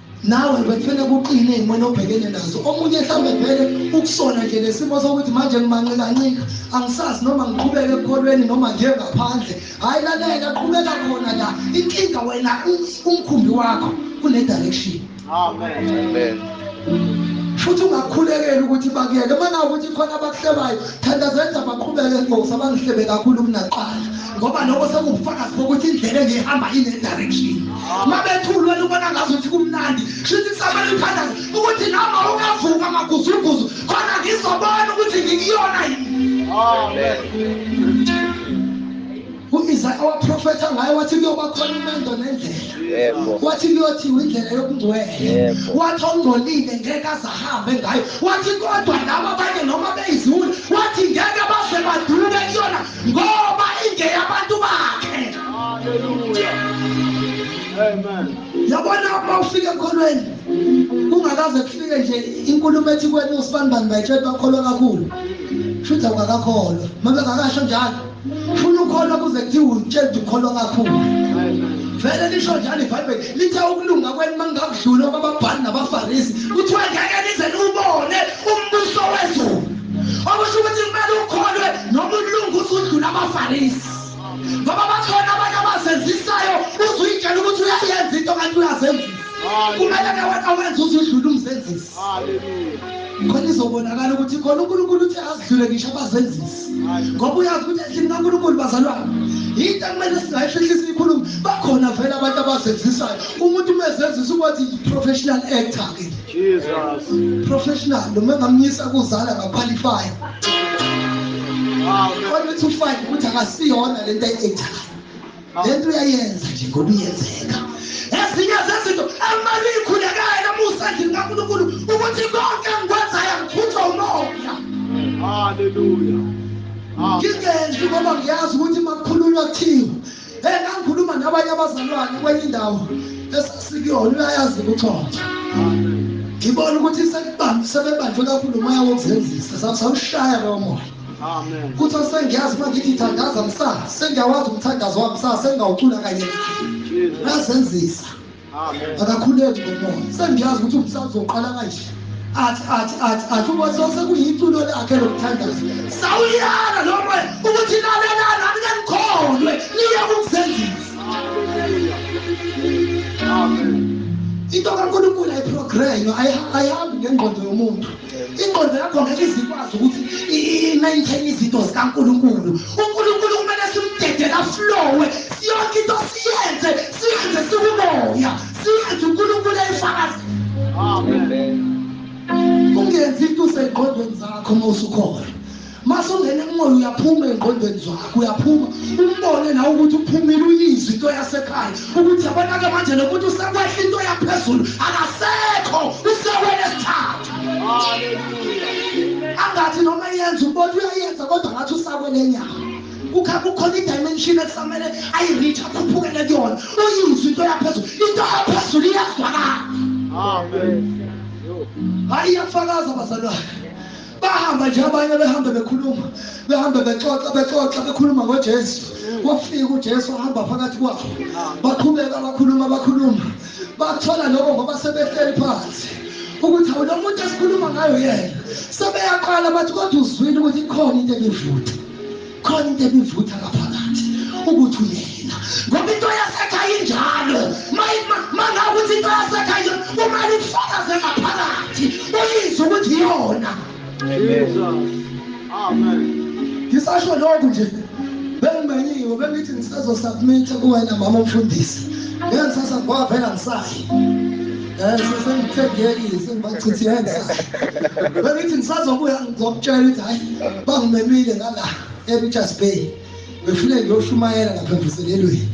Speaker 1: nawe bekufanele kuqine ey'mweni obhekene nazo omunye mhlawumbe vele ukusona nje nesimo sokuthi manje ngimanqikancika angisazi noma ngiqhubeke ekukholweni noma nje ngaphandle hhayi lalela qhubeka khona la inkinga wena umkhumbi wakho kune-direction amen futhi ungakhulekeli ukuthi bakuyeke uma nawukuthi khona abakuhlebayo thanda zenza baqhubeke nkosi abangihlebe kakhulu kunaqala ngoba lokho sekubufakazi bokuthi indlela engihamba ine-direction mabethulweni ubona ngazuthi kumnandi shuthi kusabela ithandaza ukuthi noma ungavuka amaguzuguzu khona ngizobona ukuthi ngikuyona yini u-isaya waprofetha ngayo wathi kuyoba khona imendo nendlela wathi kuyothiwa indlela yokungcwele wathi ongcolile ngeke azahambe ngayo wathi kodwa laba abanye noma beyiziwula wathi ngeke baze baduke kuyona ngoba ingeyabantu
Speaker 3: bakhe yabona
Speaker 1: uma ufika ekholweni kungakaze kufike nje inkulumo ethi kwena usibanibani bayitshela bakholwa kakhulu futhi awukakakholwa uma bengakasho njalo funa ukholwa kuze kuthiwa utshela ukuthi ukholwa kakhulu vele lisho njalo ibhayibheli lithe ukulunga kwenu uma ngingakudlula kwababhali nabafarisi kuthiwa ngeke nize niwubone umbuso wezulu okusho ukuthi kumele ukholwe noma ulungu usudlula abafarisi ngoba bakhona abantu abazenzisayo uzuyitshela ukuthi uyayenza into kanti uyazenzisa kumele ke wena wenze uzudlula umzenzisi khona izobonakala ukuthi khona unkulunkulu uthi azidlule ngisho abazenzisi ngoba uyazi ukuthi endlini kankulunkulu bazalwana yinto ekumele singayifihlisa ikhulumo bakhona vele abantu abazenzisayo umuntu uma ezenzisa ukuthi yi-professional actor-ke
Speaker 3: Jesus. Professional
Speaker 1: noma ngamnyisa kuzala ngaqualify. Wow. Kodwa uthi ufike ukuthi akasiyona lento ayenzayo. Lento uyayenza nje ngoba iyenzeka. Ezinye zezinto emali ikhulekayo namusa endlini kaNkulunkulu ukuthi konke engikwenzayo ngiphuthwa umoya.
Speaker 3: Hallelujah.
Speaker 1: Ngingenzi ngoba ngiyazi ukuthi makukhulunywa kuthiwa Hey ngangikhuluma nabanye abazalwane kwenye indawo esasikuyona uyayazi ukuxoxa. Ngibona ukuthi sekubambe sebebanjwe kakhulu umoya wokuzenzisa sawushaya lowo moya. Amen. Kuthi
Speaker 3: sengiyazi
Speaker 1: manje ngithi thandaza msa sengiyawazi umthandazo wami msa sengawucula kanye. Ngazenzisa. akakhuleki ngomoya sengiyazi ukuthi umhlaba uzoqala kanje athi athi athi athi uma sose kuyiculo lakhe lokuthandaza sawuyala lo moya ukuthi lalelana anikangikholwe niye kukuzenzisa
Speaker 3: into
Speaker 1: kankulunkulu ayiprograme ayihambi ngengqondo yomuntu ingqondo yakho ngeke izikwazi ukuthi i-maintain izinto zikankulunkulu unkulunkulu kumele simdedela flowe yonke into siyenze siyenze sikumoya siyenze unkulunkulu eyifakazi ungenzi into usengqondweni zakho uma usukhona masungena emoya uyaphuma engqondweni zakho uyaphuma umbone nawe ukuthi uphumile uyizwe into yasekhaya ukuthi yabonake manje lo muntu usekwehla into yaphezulu akasekho usewele sithathu
Speaker 3: angathi noma yenza ubona
Speaker 1: uyayenza kodwa ngathi usakwele nyama kukha kukhona idimension ekusamele ayi-reach akhuphukele kuyona uyizwe into yaphezulu into yaphezulu iyazwakala hayi iyafakaza bazalwane bahamba nje abanye behambe bekhuluma behambe bexoxa bexoxa bekhuluma ngojesu wafika ujesu ahamba phakathi kwabo baqhubeka bakhuluma bakhuluma bathola lokho ngoba sebehleli phansi ukuthi awu lo muntu esikhuluma ngayo yena sebeyaqala bathi kodwa uzwile ukuthi ikhona into engivutha khona into ebivutha ngaphakathi ukuthi uyena ngoba into yasekhaya injalo mangakuthi into yasekhaya uma lifakaze ngaphakathi uyizwe ukuthi iyona
Speaker 3: ngisasho lokhu
Speaker 1: nje bengimenyiwe bengithi ngisazosubmitha kuwena mama umfundisi ngengisasa ngoba vela ngisayi Eh sesengithengeki sengibachithenza. Bengithi ngisazobuya ngizomtshela ukuthi hayi bangimemile ngala eRichards Bay. Ngifune ngiyoshumayela lapha emvuselelweni.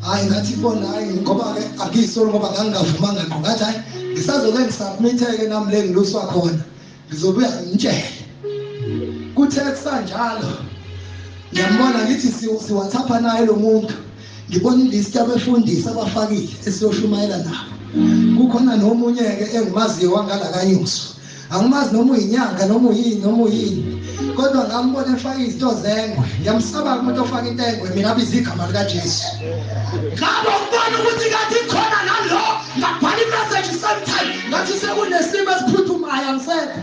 Speaker 1: Hayi ngathi bona hayi ngoba ke akuyisolo ngoba ngangingavumanga ngqo ngathi hayi ngisazoke ngisubmitheke nami le ngiluswa khona. ngizobuya ngitshele kuthe kusanjalo ngiyambona ngithi siwathapha naye lo muntu ngibona ilist yabefundisi abafakile esiyoshumayela nabo kukhona nomunye-ke engimaziyo wangalakanyuso angimazi noma uyinyanga noma uyini noma uyini kodwa ngambona efaka izinto zengwe ngiyamsaba umuntu ofaka into engwe mina abiza igama likajesu ngabe ukubona ukuthi kathi khona nalo ngabhala imeseji sometime ngathi sekunesimo esiphuthumayo angisekho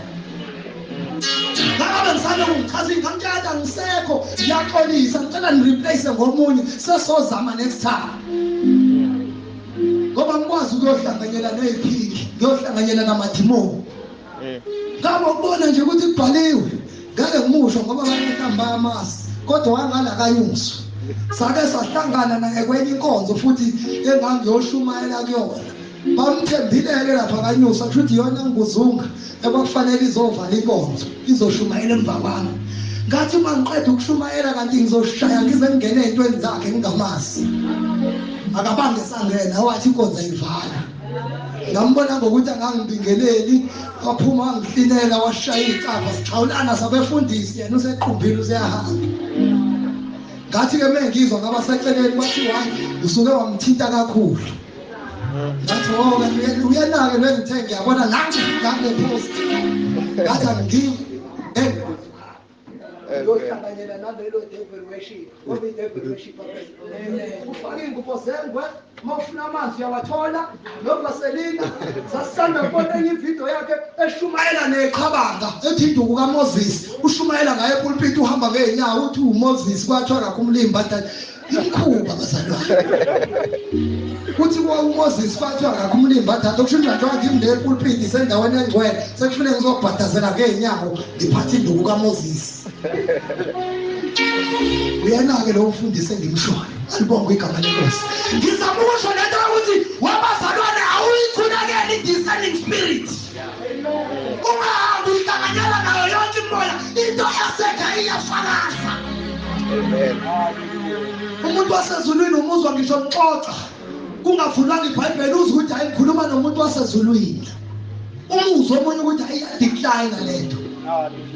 Speaker 1: ngabe ngisane ungichaza ingamtshata angisekho ngiyaxolisa ngicela nireplace ngomunye sesozama next time ngoba ngikwazi ukuyohlanganyela neyiphingi ngiyohlanganyela namadimoni eh. ngabo ukubona nje ukuthi kubhaliwe ngeke ngimusho ngoba abantu mhlawumbe bayamazi kodwa wangala kayungizwa sake sahlangana naye kwenye inkonzo futhi engangiyoshumayela kuyona bamthembile-ke lapha kanyusa kusho ukuthi iyona ngikuzunga ekwakufanele izovala inkonzo izoshumayela emva kwami ngathi uma ngiqeda ukushumayela kanti ngizoshaya ngize ngingene ey'ntweni zakhe ngingamazi akabange sangena wathi inkonzo ayivala ngambona ngokuthi angangibingeleli waphuma wangihlinela washaya iy'capha sixhawulana sabefundisi yena usequmbile useyahamba ngathi-ke uma ngizwa ngabaseceleni bathi wayi usuke wamthinta kakhulu ngathi woke oh, uyenake lengithe ngiyabona nange ngangephosti ngathi angiyi uyohlanganyela nalelo devil worship ngoba i-devil worship ufake iy'ngubo zengwe uma ufuna amanzi uyawathola novaselina sasithanda kubona enye ividiyo yakhe eshumayela neqhabanga ethi induku kamoses ushumayela ngaye epulpiti uhamba ngey'nyawo uthi umoses kwathiwa kakho umlimba Imikhuba bazalwane. Kuthi kwa uMoses fathwa ngakho umlimba thatha ukusho njalo njengoba ngimi le pulpit sendaweni engcwele sekufuneka ngizobhadazela ke inyawo ngiphathe induku kaMoses. Uyena ke lo ufundise ngimshoyo. Alibonge igama lenkosi. Ngizama ukusho lento ukuthi wabazalwane awuyikhulekeli discerning spirit. ungahambi uyihlanganyela nayo yonke imimoya into yasekha iyafakaza umuntu wasezulwini umuzwa ngisho ngixoxa kungavulwanga ibhayibheli uzwe ukuthi hayi ngikhuluma nomuntu wasezulwini umuzwa omunye ukuthi hayi iyadecline le nto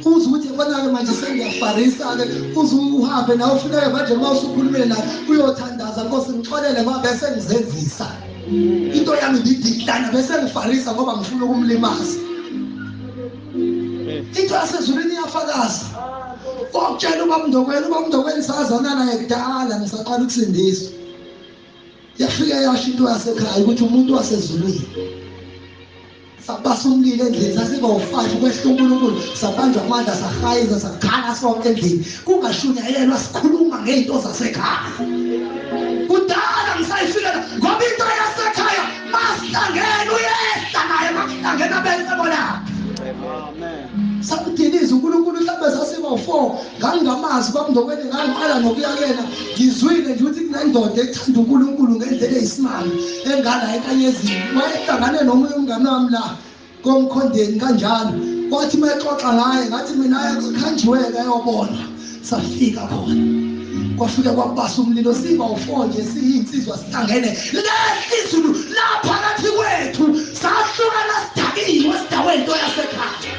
Speaker 1: uze ukuthi konake manje sengiyafarisa-ke uze uhambe nawe ufuneke manje uma usukhulumile naye uyothandaza nkosi ngixolele ngoba bese ngizenzisa into yami ngidiklana bese ngifarisa ngoba ngifuna ukumlimaza into yasezulwini iyafakaza okutshela ubamndokwenu ubamndokwenu sazana naye kudala ngisaqala ukusindiswa yafike yasho into yasekhaya ukuthi umuntu wasezulwini sabasa umlilo endlini sasibawu-five ukwehla unkulunkulu sabanjwa amandla sahayiza sakhala sonke endlini kungashunyayelwa sikhuluma ngey'nto zasekhaya kudala ngisayifikela ngoba into yasekhaya masihlangene uyehla naye makuhlangene abesebonaphi samdiliza unkulunkulu mhlawumbe sasiba-four ngangingamazi kwamndokweni ngangiqala nokuya kuyena ngizwile nje ukuthi kunendoda ethanda unkulunkulu ngendlela eyisimanga engala enkanyezini wayehlangane nomunye umngane wami la komkhondeni kanjalo wathi uma exoxa ngaye ngathi mina ekhanjiweke ayobona safika khona kwafika kwabasa umlilo siba u-4 nje siyinsizwa sihlangene lehla izulu laphakathi kwethu sahlukana sidakiwe sidawe into yasekhaya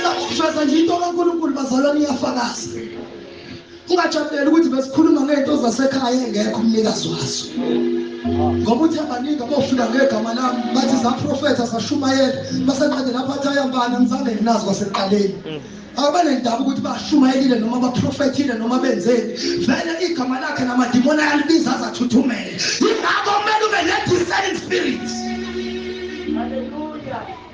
Speaker 1: sakhuthaza nje into kankulunkulu bazalwane iyafakaza Ungajabuleli ukuthi besikhuluma ngento zasekhaya engekho umnikazi wazo. Ngoba uthe baningi abofika ngegama lami bathi zaprofetha sashumayela basenqede lapha athi ayambana ngizange nginazi kwaseqaleni. Abanendaba ukuthi bashumayelile noma baprofethile noma benzeni vele igama lakhe namadimoni ayalibiza azathuthumele. Yingakho kumele ube ne-discerning spirit. Hallelujah.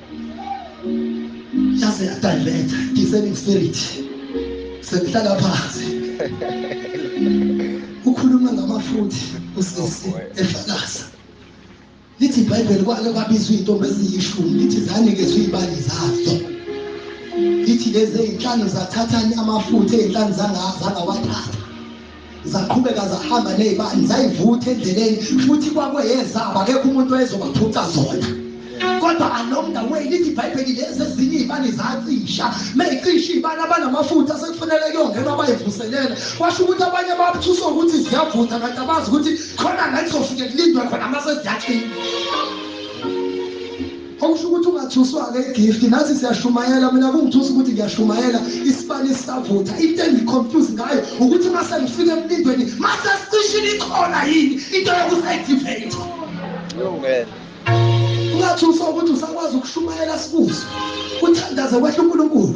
Speaker 1: yaze yadiveta discerning spirit sengihlala phansi ukhuluma ngamafuthi usisi efakaza lithi ibhayibheli kwake kwabizwa iy'ntombi eziyishumi lithi zanikezwa iy'bali zazo lithi lezi ey'nhlanu zathathani amafutha ey'nhlanu zangawathatha zaqhubeka zahamba nezibani zayivutha endleleni futhi kwakweyezabo akekho umuntu wayezobaphuca zona kodwa along the way lithi ibhayibheli lezi ezinye iy'bani zacisha meyicisha iy'bani abanamafutha sekufanele kuyongena bayivuselele kwasho ukuthi abanye babuthuswa ukuthi ziyavutha kanti abazi ukuthi khona la kuzofike kulindwe khona uma seziyacinga Okusho ukuthi ungathuswa-ke igift nathi siyashumayela mina kungithusa ukuthi ngiyashumayela isibani sisavutha into engiconfuse ngayo ukuthi uma sengifike emlindweni mase sicishile ikhona yini into yokusayidiveyitha ungathuswa ukuthi usakwazi ukushumayela sikuzwe uthandaze kwehla unkulunkulu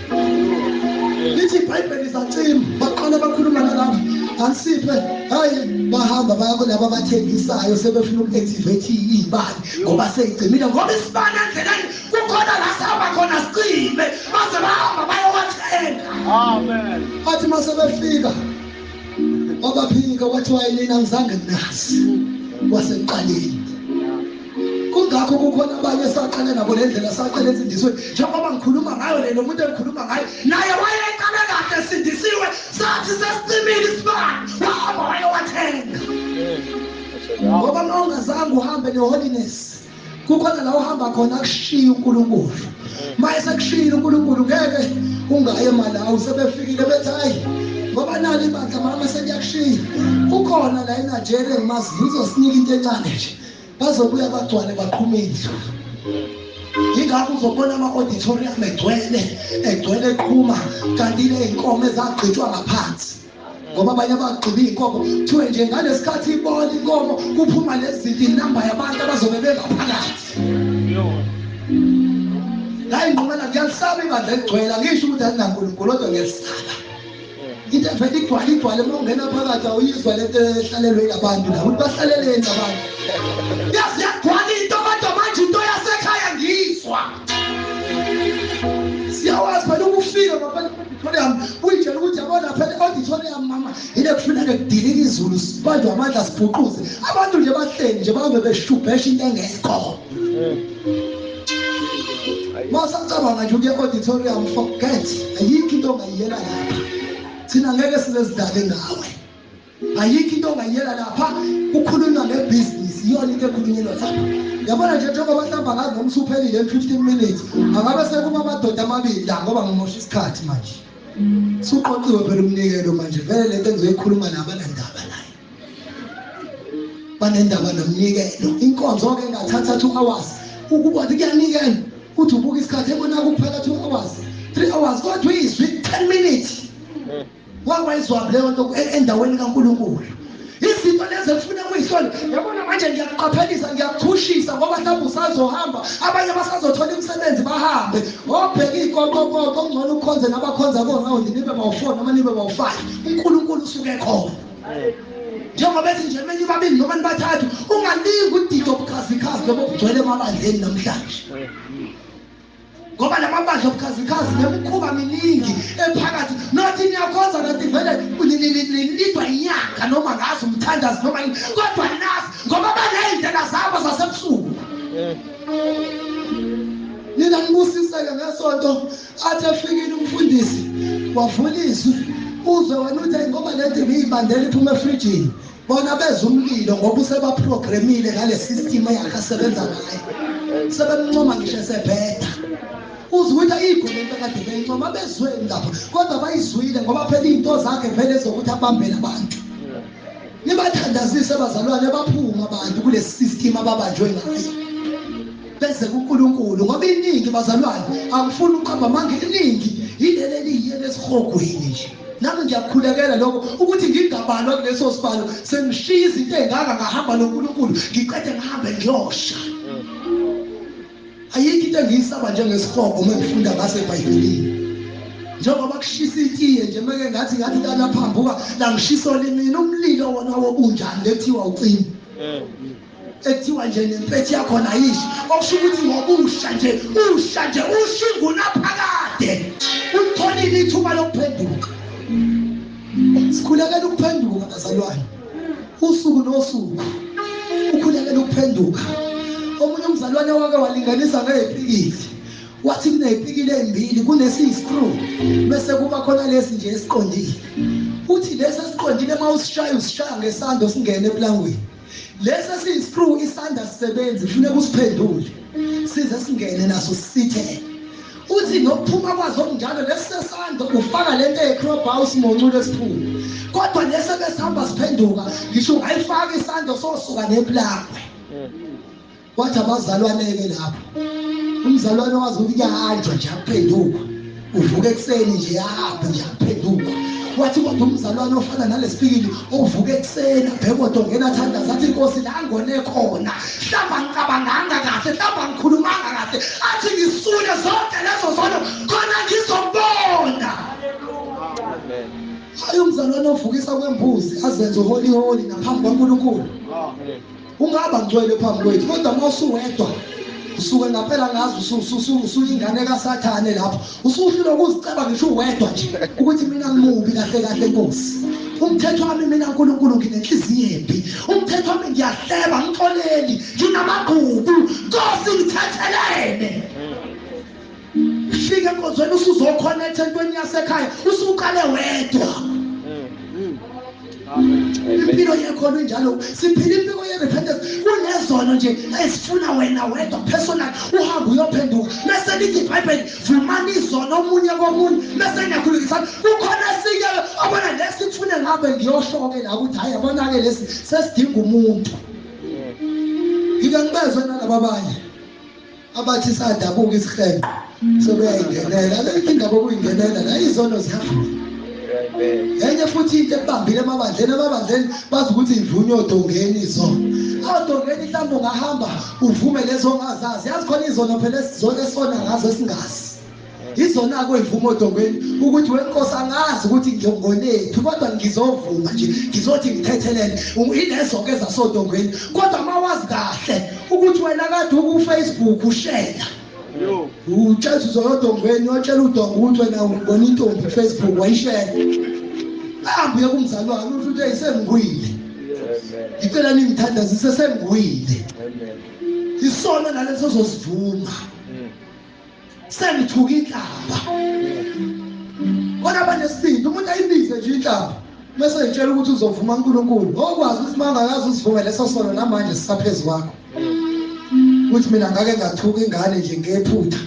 Speaker 1: lithi ibhayibheli zacima baqala bakhuluma nalabo anisiphe hayi bahamba baya kulabo abathengisayo sebefuna uku-activate iy'bani ngoba seyigcimile ngoba isibani endleleni kukhona la sihamba khona sicime baze bahamba bayowathenga
Speaker 3: athi uma
Speaker 1: sebefika wabaphika wathi wayelina ngizange nginazi wasekuqaleni kungakho kukhona abanye esaqale nabo le ndlela saqale ensindisweni njengoba ngikhuluma ngayo le nomuntu engikhuluma ngayo naye wayeqale kahle esindisiwe sathi sesicimile isibani wahamba wayewathenga ngoba uma ungazange uhambe ne-holiness kukhona la uhamba khona akushiye unkulunkulu uma esekushiyile unkulunkulu ngeke ungaye malawi sebefikile bethi hayi ngoba nalo ibandla mama seliyakushiya kukhona la enigeria ngimaziyo uzosinika into encane nje bazobuya bagcwale baqhume izulu yingakho uzobona ama-auditorium egcwele egcwele eqhuma kanti ley'nkomo ezagqitshwa ngaphansi ngoba abanye abagqiba iy'nkomo kuthiwe nje ngalesi khathi ibona inkomo kuphuma lezinto inamba yabantu abazobe bengaphakathi ngayinqumela ngiyalisaba ibandla eligcwele angisho ukuthi alinankulunkulu kodwa ngiyalisaba into evele igcwale igcwale uma ungena phakathi awuyizwa lento ehlalelwe ilabantu la ukuthi bahlaleleni abantu yazi yagcwala into kodwa manje into yasekhaya ngiyizwa siyawazi phela ukufika ngaphandle kwe-auditorium uyitshela ukuthi yabona phela i-auditorium mama yile kufuneka kudilika izulu sibanjwe amandla sibhuquze abantu nje bahleli nje bahambe beshubhesha into engekho masacabanga nje ukuya auditorium forget ayikho into ongayiyela lapha thina ngeke sizezidake ngawe ayikho into ongayiyela lapha kukhulunywa ngebhizinisi iyona into ekhulunyelwa lapha yabona nje njengoba bahlamba ngazi noma usuphelile em-fifteen minutes angabe sekuma amadoda amabili la ngoba ngimosha isikhathi manje suqoqiwe phela umnikelo manje vele le nto engizoyikhuluma nabanandaba banendaba nomnikelo inkonzo ke ngathatha 2 hours ukuba kuyanikela uthi ubuka isikhathi ebona kuphela 2 hours 3 hours kodwa izwi 10 minutes hmm. wawayizwa leyo nto e-, endaweni kaNkuluNkulu izinto lezi efuna kuyihlola yabona manje ngiyakuqaphelisa ngiyakuchushisa ngoba mhlawumbe usazohamba abanye basazothola imisebenzi bahambe obheke iy'koqokoqo okungcono ukhonze nabakhonza ko-round nibe bawu-four noma nibe bawu-five unkulunkulu usuke khona njengoba ethi nje emenye babili noma nibathathu ungalingi udida obukhazikhazi lobo obugcwele emabandleni namhlanje ngoba la mabandla obukhazikhazi nemikhuba miningi ephakathi nothi niyakhonza nothi vele nilidwa inyanga noma ngazi umthandazi noma yini kodwa nazi ngoba baney'ndlela zabo zasebusuku nina nibusiseke ngesonto athi efikile umfundisi wavula izwi uzwe wena uthi ngoba lento ngiyibandela iphuma efrijini bona beza umlilo ngoba usebaprogramile ngale system eyakasebenza ngayo sebemncoma ngisho esebheda uzwile igolo into kade beyincoma bezweni lapho kodwa bayizwile ngoba phela izinto zakhe vele ezokuthi abambele abantu nibathandazise abazalwane baphuma abantu kulesi system ababanjwe ngayo beze kuNkulunkulu ngoba iningi bazalwane angifuni uqamba amanga iningi yileli eliyiye lesihogweni nje nami ngiyakhulekela lokho ukuthi ngingabalwa kuleso sibalo sengishiya izinto ezingaka ngahamba noNkulunkulu ngiqede ngihambe ngiyosha Ayikho into engiyisaba njengesihogo uma ngifunda ngase Bhayibhelini. Njengoba kushisa itiye nje meke ngathi ngathi kana phambuka la ngishiso limini umlilo wona wobunjani lethiwa ucima. Eh. Ekuthiwa nje nempethi yakho nayishi okusho ukuthi ngobusha nje usha nje ushinguna phakade. Ulitholile ithuba lokuphenduka. sikhulekela ukuphenduka bazalwane usuku nosuku ukhulekela ukuphenduka omunye umzalwane wake walinganisa ngeyipikili wathi kuneyipikile ezimbili kunesiyi-screw bese kuba khona lesi nje esiqondile uthi lesi esiqondile uma usishaya usishaya ngesando singene eplangweni lesi esiyiscrew isandla sisebenzi kufuneka usiphendule size singene naso sithele uthi nokuphuma kwazo kunjalo lesisesandla ufaka lento eyecroba usimonculo esiphuma kodwa lesi ebesihamba siphenduka ngisho ungayifaka isandla sosuka neplangwe kwathi abazalwane-ke lapho umzalwane wazi ukuthi kuyahanjwa nje aphenduka uvuka ekuseni nje ahambe nje aphenduka wathi kodwa umzalwane ofana nalesipikili ovuka ekuseni abhekodo ngena athandaza athi inkosi la ngone khona hlamba ngicabanganga kahle hlamba ngikhulumanga kahle athi ngisule zonke lezo zono khona ngizobona hayi umzalwane ovukisa kwembuzi azenze uholiholi naphambi kwankulunkulu ungaba ngcwele phambi kwethu kodwa uma usuwedwa usuke ngampela ngazi usuyingane kasathane lapho usuhlulwa ukuziceba ngisho uwedwa nje ukuthi mina ngimubi kahle kahle nkosi umthetho wami mina nkulunkulu nginenhliziyo embi umthetho wami ngiyahleba ngixoleli nginamagqubu nkosi ngithethelene fika enkonzweni usuzokhonetha entweni yasekhaya usuqale wedwa impilo yekhona injalo siphila impilo ye-repentance kunezono nje ezifuna wena wedwa personal uhambe uyophenduka mese lithi ibhayibheli vumani izono omunye komunye mese ngiyakhulukisana kukhona esinye obona lesi kufune ngabe ngiyoshoke la ukuthi hhayi yabona-ke lesi sesidinga umuntu ngike ngibezwe nalaba abanye abathi sadabuka isihenqo sebeyayingenela akekho indaba okuyingenela la izono zihamba enye futhi into ekubambile emabandleni emabandleni bazi ukuthi ivunywe odongeni izono odongeni mhlawumbe ungahamba uvume lezo ongazazi yazi khona izono phela esizona ngazo esingazi ngizonakwe mvumo odongweni ukuthi wenkosi angazi ukuthi ngiyokonethu kodwa ngizovuma nje ngizothi ngithethelele ilezo-ke zasodongweni kodwa uma wazi kahle ukuthi wena kade ukufacebook ushela utshela uzoyodongweni watshela udongo ukuthi wena ubona intombi kufacebook wayishela ahambe uye kumzali wakhe uthi uthi eyisengiwile ngicela ningithandazise sengiwile isona naleso zosivuma sengithuka inhlamba kodwa banesibindi umuntu ayibize nje inhlamba bese ngitshela ukuthi uzovuma uNkulunkulu okwazi ukuthi mangakazi usivumele leso sono namanje sisaphezulu kwakho ukuthi mina ngake ngathuka ingane nje ngephutha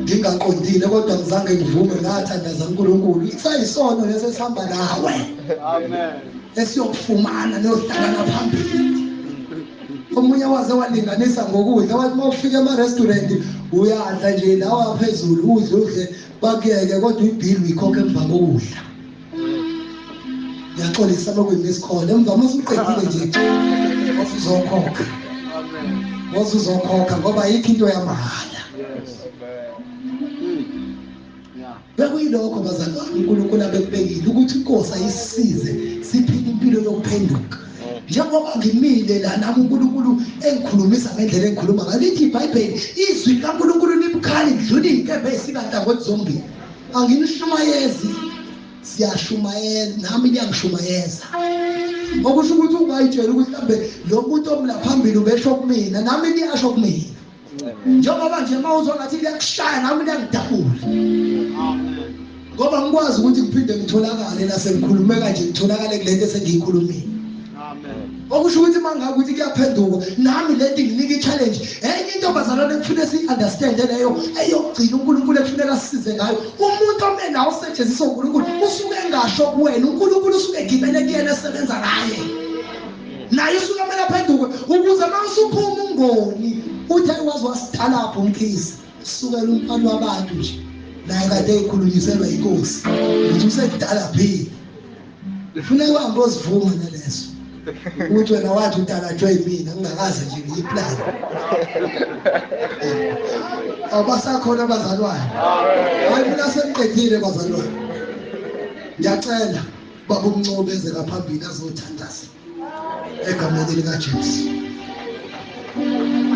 Speaker 1: ngingaqondile kodwa ngizange ngivume ngathandaza uNkulunkulu isayisono lesi esihamba nawe amen esiyokufumana niyohlangana phambili omunye waze walinganisa ngokudla wathi uma ufika ema-restaurant uyadla nje lawa phezulu udle udle bakuyeke kodwa ibhili uyikhokhe emva kokudla ngiyaxolisa lokwimi esikhona emva uma suqedile nje uzokhokha ngoze uzokhokha ngoba yikho into yamahhala Bekuyilokho bazalwane uNkulunkulu abekubekile ukuthi inkosi ayisize siphile impilo yokuphenduka. Njengoba ngimile la nami uNkulunkulu engikhulumisa ngendlela engikhuluma ngayo lithi iBhayibheli izwi likaNkulunkulu libukhali kudlula izinkemba ezikantangothi zombili. Anginishumayezi siyashumayela nami niyangishumayeza. Okusho ukuthi ungayitshela ukuthi mhlambe lo muntu omla phambili ubesho kumina nami niyasho kumina. njengoba nje mawuzwa ngathi kuyakushaya nami kuyangidabula ngoba ngikwazi ukuthi ngiphinde ngitholakale nasengikhulume kanje ngitholakale kulento esengiyikhulumile okusho ukuthi uma ngabe ukuthi kuyaphenduka nami le nto nginika i-challenge enye into bazalwane ekufuneka siyi-understande leyo eyokugcina unkulunkulu ekufuneka sisize ngayo umuntu ome nawo osetshenziswa unkulunkulu usuke engasho kuwena unkulunkulu usuke egibele kuyena esebenza ngaye naye usuke kumele aphenduke ukuze uma usuphuma ungoni uthi ayi waze wasidalapha umkhizi sukela umfana wabantu nje naye kade ekhulunyiselwa inkosi ukuthi usekudala phile ufuna uhambe ozivuma naleso ukuthi wena wathi udalatshwe yimina ngingakaze nje ngiyiplane abasakhona abazalwane hayi mina sengiqedile bazalwane ngiyacela baba umncobe eze ngaphambili azothandaza egameni likaJesu